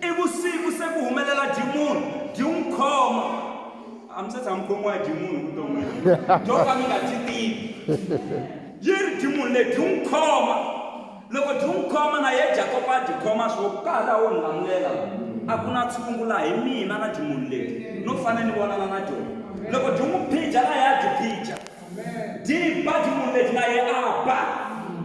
I vusiku se ku humelela dimoni byi n'wi khoma a mi se tshama mukhomiwa hi dimoni vuton'wini byo ka mi nga byi tivi yi ri dimoni leyi byi n'wi khoma loko byi n'wi khoma na ye jakopa a byi khoma swo ku ka ha laha wo ni lamulela a ku na tshungu laha hi mina na dimoni leyi no fanele ni vonana na dyona loko byi n'wi phija laha ya byi phija Di ba dimoni leti na ye a ba,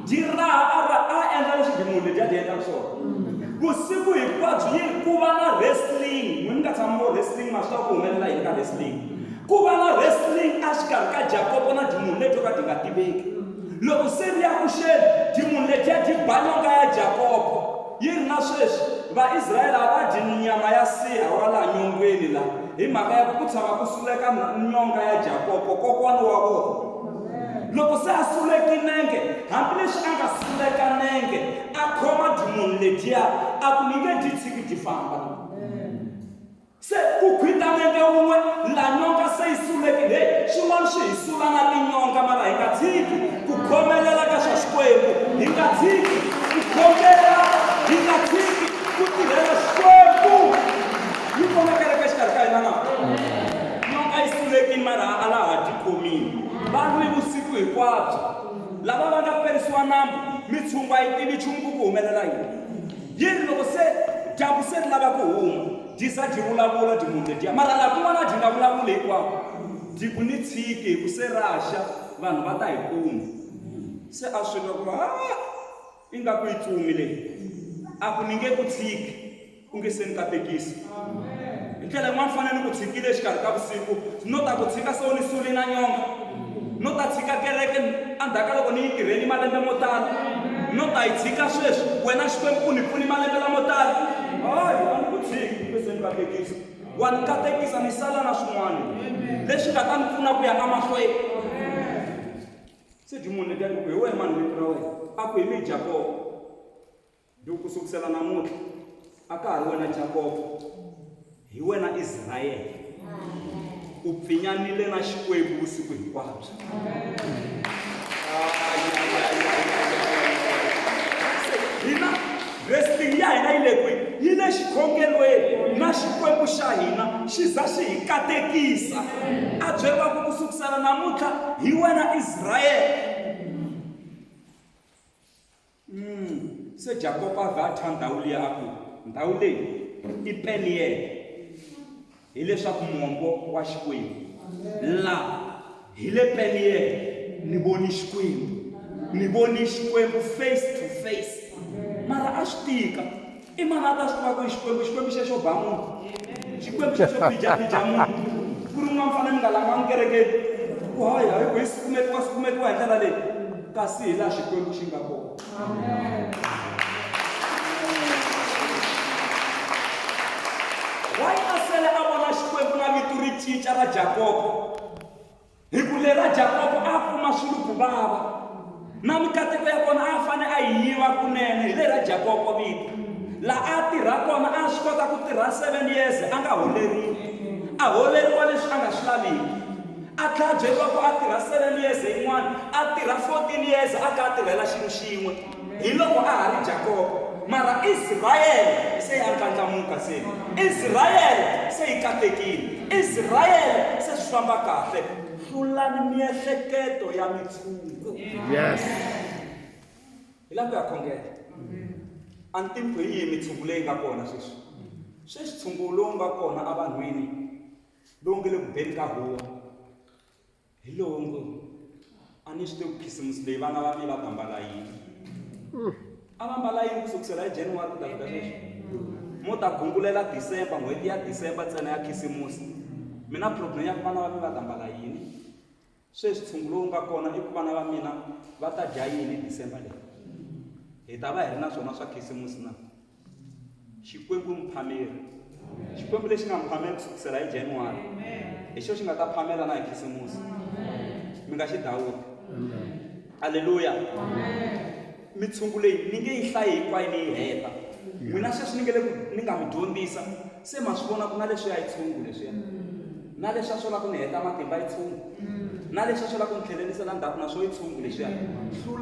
di raha a ra a endla leswi dimoni leti a ti endlaka swona. Vusiku hinkwabyo yi ri ku va na wrestling, n'wina mi nga tshama mi vo wrestling ma swi tiva ku humelela yini ka wrestling. Ku va na wrestling exikarhi ka Jakopo na dimoni leto ka ti nga tiveki. Loko se ri ya ku xeni, dimoni letiya di ba nyonga ya Jakopo. Yi ri na sweswi, Vaisrayele a va dyi nyama ya nsiha wa laha nyongweni la hi mhaka ya ku ku tshama ku suleka nyonga ya Jakopo, kokwana wa vona. Loko se a suleki nenge, hambileswi a nga suleka nenge, a khoma dyumunhu ledyiya, a ku, Ni nge dyi tshiki dyi famba. Se ku gwita nenge wun'we la nyonga se yi suleke, he, swin'wana swi hi sula na tinyonga, mara hi nga tshiki ku khomelela ka swa Xikwembu, hi nga tshiki ku khongela, hi nga tshiki ku tirhela Xikwembu. Yi kona kereke exikarhi ka hina na? Nyonga yi sulekile mara a la ha tikhomile. Va lwi vusiku hinkwabyo. Lava va nga perisiwa nambu, mitshungu a yi tivi nchumu ku ku humelela yini. Yi ri, Loko se dyambu se ri lava ku huma, dyi za dyi vulavula, dyi munca dyi ya, mara laha kun'wana a dyi nga vulavuli hinkwako, dyi ku ni tshiki hi ku se ra xa, vanhu va ta hi kuma. Se a swi twa ku ri, Haa! Ingaku yi tsumi leyi. A ku, Ni nge ku tshiki u nge se ni katekisa. hi ndlela yin'wana fana ni ku tshikile exikarhi ka vusiku no ta ku tshika so ni suli na nyonga no ta tshika kereke endzhaku ka loko ni yi tirheni malembe mo tala no ta yi tshika sweswi wena xikwembu u ni pfuni malembe lamo tala hayi a ni ku tshiki kumbe se ni katekisa wa ni katekisa ni sala na swin'wana leswi nga ta ni pfuna ku ya emahlweni se dyi munhu letiya ku hi wehe mani vito ra wena a ku hi mi jakobo Duh ku sukusela namuntlha a ka ha ri wena Jakobo hi wena Israyele u pfinyanile na Xikwembu vusiku hinkwabyo hina wrestling ya hina yi le kwihi yi le xikhongelweni na xikwembu xa hina xi za xi hi katekisa a byeriwaku ku sukusela namuntlha hi wena israyele Umm, se Jakopo a vhe a thya ndhawu liya a ku, Ndhawu leyi i Peniele, hi leswaku mombo wa Xikwembu. La hi le Peniele, ni voni Xikwembu, ni voni Xikwembu face to face. Mara a swi tika, I mani a ta swi tiva ku i Xikwembu? Xikwembu xexo ba munhu, Xikwembu xexo bijabija munhu. Ku ri n'wana mfana mi nga langanga kerekeni ku hayi hayi ku hi sukumetiwa sukumetiwa hi ndlela leyi, kasi hi laha Xikwembu xi nga kona. Why a sele a vona Xikwembu na vito ri cinca ra Jakobo? hi ku lera jakobo a kuma swilo ku vava na mikateko ya kona a fane a yi yiva kunene hi lera jakobo vito laha a tirha kona a swi kota ku tirha seven years a nga holeriwi a holeriwa leswi a nga swi laviki a tlhabyeriwa ku a tirha seven years yin'wana a tirha fourteen years a ka a tirhela xilo xin'we Hiloko a ha ri Jakobo, mara Israele se ya ndlandlamuka se. Israele se yi katekile. Israele se swi famba kahle. Hlulani miehleketo ya mitshungu. Yes. Hi lava ku ya khongela. A ni tivi ku hi yihi mitshungu leyi nga kona sweswi. Sweswi tshungu lowu nga kona evanhwini lowu nge le ku beni ka huwa. Hi lowo ngo, A ni swi tivi ku khisimusi leyi vana va mina va ta mbala yini. A va mbala yini ku sukusela hi January ku ta fika sweswi? Mo ta gungulela December, n'hweti ya December ntsena ya khisimusi. Mi na problem ya ku vana va mina va ta mbala yini? Sweswi ntshungu lowu nga kona i ku vana va mina va ta dya yini hi December leyi? Hi ta va hi ri na swona swa khisimusi na? xikwembu i muphameri xikwembu lexi nga mi phamela ku sukusela hi januwari hi xo xi nga ta phamela na hi khisimusi mi nga xi dawuti aleluya mitshungu leyi ni nge yi hlayi hinkwayo ni yi heta n'wina sweswi ni nge le ku ni nga mi dyondzisa se ma swi vona ku na leswi ya yi tshungu leswiya na leswi a swo lava ku ni heta matimba yi tshungu na leswi a swo lava ku ni tlhelerisela ndzhaku na swo yi tshungu leswiya hlula